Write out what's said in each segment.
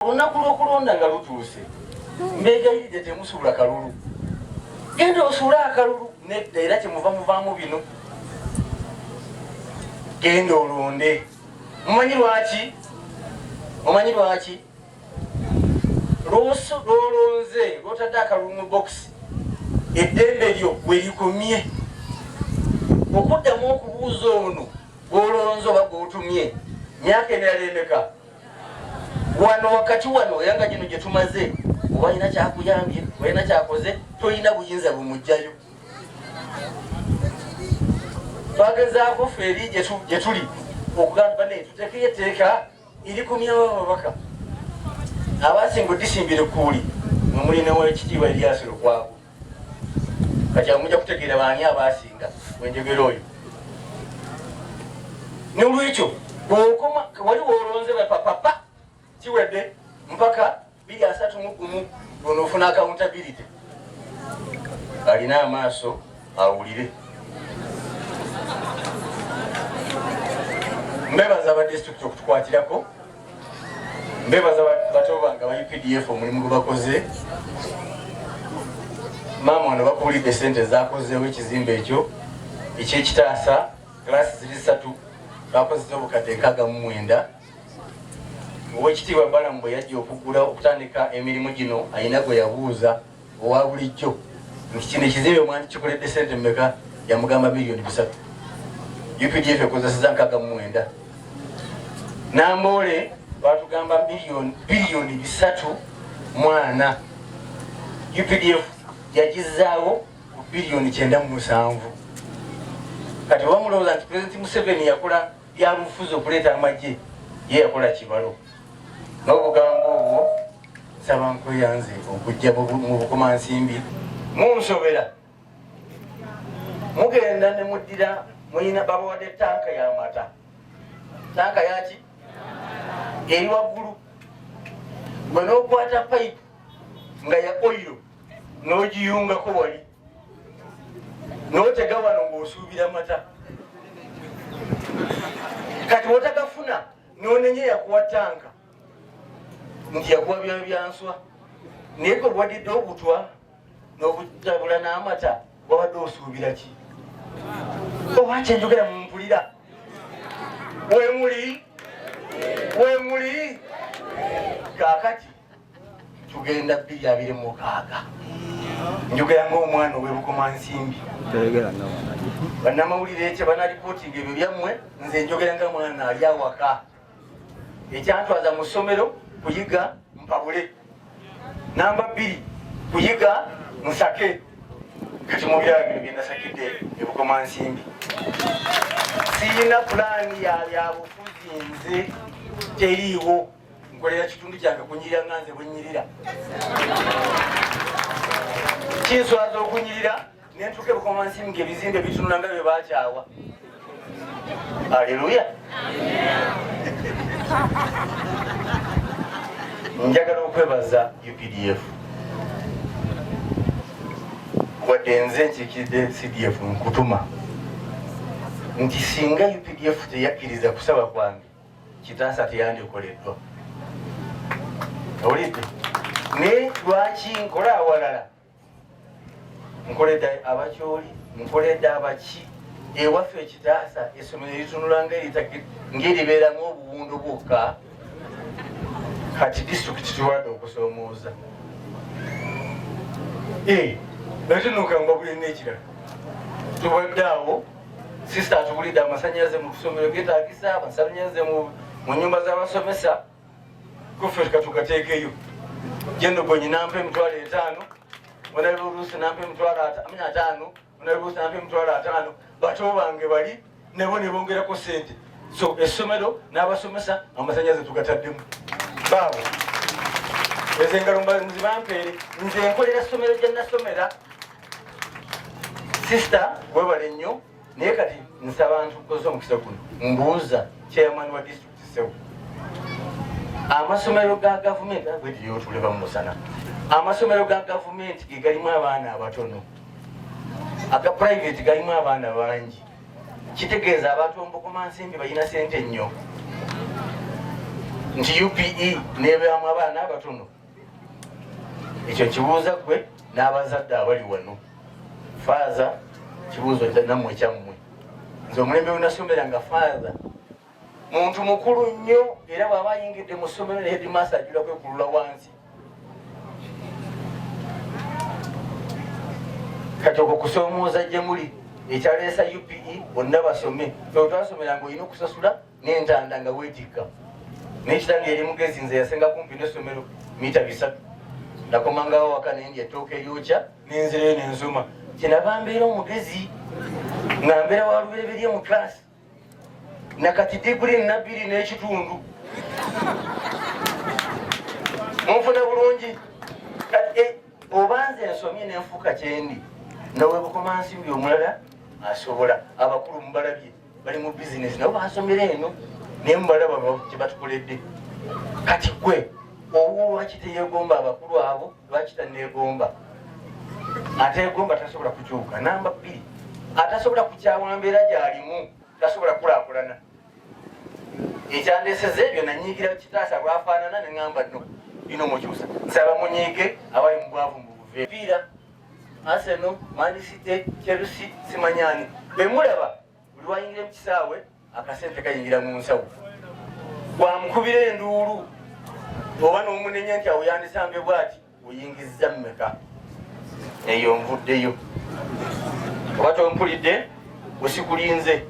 olunaku lw'okulonda nga lutuuse mbeegayiridde temusuula kalulu genda osuule akalulu nedda era kyemuva muvaamu bino genda olonde mumanyi lwaki omanyi lwaki lwolonze lwotadde akalulu mu bokisi eddembe lyo welikomye okuddamu okubuuza ono gwolonze oba gwotumye myaka emirala emeka wano wakati wano era nga gino gye tumaze oba alina kyakuyambye olina kyakoze tolina buyinza bumugjayo twagezaako fe eri gye tuli okugamba ne tutekeyo etteeka eri ku myawo ababaka abasinga odisimbire kuuli nomulinawo ekitiibwa eryasiro kwago kati amuja kutegeera baani abaasinga wenjogera oyo nolwekyo bwokoma wali wolonze bapapapa kiwedde mpaka biri asatu mugumu onoofuna accountability alina amaaso awulire mbebaza abadistrict okutukwatirako mbebaza bato bange aba updf omulimu gwe bakoze maama ono bakuulidde sente zakozeewo ekizimba ekyo ekyekitaasa glassi ziri satu bakozesa obukadde nkaaga mu mwenda owekitiibwa balamu bwe yajja okugula okutandika emirimu gino ayina gwe yabuuza owa bulijjo nti kino ekizimbe mwandikikoledde sente mumeka yamugamba biliyoni bisatu updf ekozeseza nkaga mumwenda namboole batugamba biliyoni bisatu mwana updf yagizaawo ku biliyoni kyenda mu musanvu kati bamulowooza nti pulezidenti museveni yakola byabufuzi okuleeta amagye ye yakola kibalo nobugambo obwo Nsaba nkweyanze okujja mu bukomansimbi. Munsobera mugenda ne muddira mulina babawadde tanka ya mata tanka yaki eri waggulu gwe n'okwata payipu nga ya oyo n'ogiyungako wali n'otega wano ng'osuubira mata kati wotagafuna n'onenya yakuwa tanka nti yakuwa byayo byanswa naye kwewadidde obutwa nobutabula n'amata wabadde osuubira ki oba kyenjogera mumpulira wemuli wemuli kakati tugenda bbiri abiri mukaaga njogera ngaomwana owebukoma nsimbi banamawulire ekyo banalipotinga ebyo byammwe nze njogera nga mwana ali awaka ekyantwaza mu ssomero kuyiga mpabule namba bbiri kuyiga musake kati mubyala bino byenasakidde ebukoma nsimbi siyina pulaani yabyabufuzi nze teriiwo nkolera kitundu kyange kunyirira nga nze bwenyirira kinswaza okunyirira nentuuka ebukoma nsi nga ebizimbe bitunula nga bye bakyawa aleluya njagala okwebaza updf wadde nze nkikiridde cdf nkutuma nti singa updf teyakkiriza kusaba kwange kitaasa teyandikoleddwa owulidde naye lwaki nkola awalala nkoledde abakyoli nkoledde abaki ewaffe ekitaasa essomero eritunula ngeribeeramu obuwundu bwokka kati disitulikiti tulwadde okusomooza natinuka nga bulina ekirala tubadde awo sisita atubulidde amasanyalaze mu kusomero getagisa amasanyalaze mu nyumba z'abasomesa kuffe katugateekeyo jenogonyi nampa emitwalo etaano onali oluusi nampa emitwalo ataano onali oluusi nampa emitwalo ataano bato bange bali nebo ne bongerako sente so essomero n'abasomesa amasanyaze tugataddemu baabo ezo engalo mbazi bampeere nze nkolera ssomero gye nasomera sisita webale nnyo naye kati nsaba nti nkozesa omukisa guno mbuuza chairman wa district sewo amasomero ga gavumenti agwediyotuleba mumusana amasomero ga gavumenti ge galimu abaana abatono aga private galimu abaana bangi kitegeeza abantu omubukuma nsimbi balina sente nnyo nti upe nebeamu abaana abatono ekyo kibuuza gwe n'abazadde abali wano faaza kibuuzo namwe kyammwe nze omulembe wenasomera nga faaza muntu mukulu nnyo era bwaba ayingidde mu ssomero ne hedimasa ajula kwekulula wansi kati okwo kusoomooza gye muli ekyaleesa upe bonna basome twasomera nga olina okusasula n'entanda nga weetikka naye kitange eri mugezi nze yasenga kumpi n'essomero mita bisatu nakomangawo waka naye ndi ettooka eryokya nenzireyo nenzuma kyenava mbeera omugezi nga mbeera wa lubereberye mu class nakati diguli nabbiri n'ekitundu munfuna bulungi eh, oba nze ensomye nenfuuka kyendi nawebukomansimbi omulala asobola abakulu mubalabye bali mu bizinesi nabo basomera eno naye mubalaba kyebatukoledde kati gwe owo lwaki teyegomba abakulu abo lwaki tanegomba ategomba tasobola kukyuka namba bbiri atasobola kukyawa mbeera gyalimu tasobola kulakulana ekyandeseza ebyo nanyigira kitaasa lwafaanana neŋamba no bino mukyusa nsaba munyiike awali mubwavu mubuvepiira Arsenal, Man City, Chelsea, simanyani bemulaba buli wayingira mukisaawe akasente kayingira mu nsawo bwamukubira enduulu oba nomunenya nti awo yandisambye bwati oyingizza mumeka eyo nvuddeyo oba tompulidde usikulinze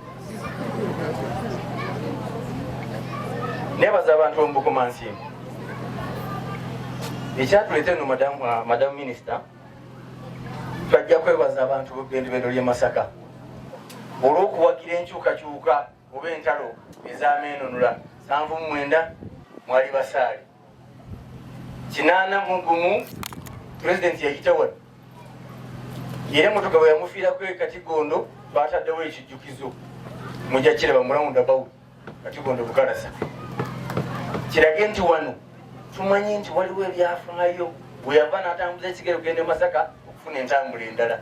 nebaza abantu bemubukuma nsimbi ekyatuleta eno madamu uh, minisita twajja kwebaza abantu bebendobendo lye masaka olwokuwagira enkyukakyuka oba entalo ezamenunula sanvu mumwenda mwali basaali kinaana mu gumu pulezidenti yayitawa era emotoka bwe yamufiirako e katigondo baataddewo ekijjukizo mujja kiraba murawunda bawu katigondo bukalasa kirage nti wano tumanyi nti waliwo ebyafaayo weyava n'atambuza ekigere okugenda e masaka okufuna entambula endala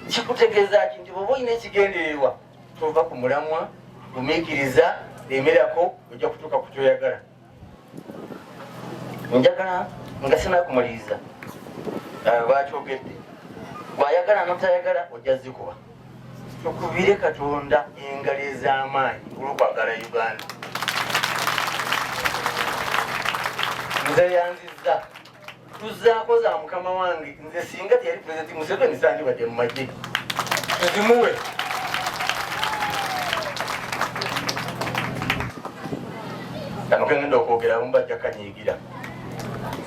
kikutegeeza ki nti bwoba olina ekigendererwa tova ku mulamwa gumiikiriza emerako ojja kutuuka ku kyoyagala njagala nga sinakumuliriza eh, bakyogedde bwayagala notayagala ojja zikuba tukubire katonda engalo ez'amaanyi olwokwagala uganda nze yanzizza tuzaako za mukama wange nze singa teyali pulezidenti museveni sandibadde mu magye tuzimuwe kano kegenda okwogera abamu bajja kanyiigira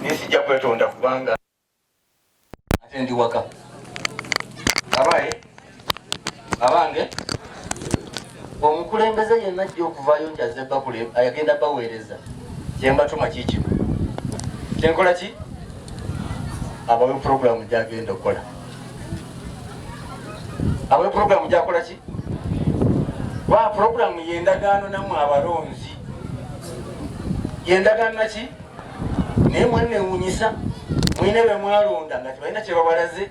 naye sijja kwetonda kubanga ate ndi waka abaye abange omukulembeze yenna ajja okuvaayo nti azze bakule ayagenda baweereza kyembatuma kikino kyenkola ki abawe puroguramu gyagenda okukola abawe puroguramu gyakola ki wa puroguramu yendagaano namwe abalonzi yendagaano naki naye mwenewunyisa mwine bemwalonda nga tebalina kyebabalaze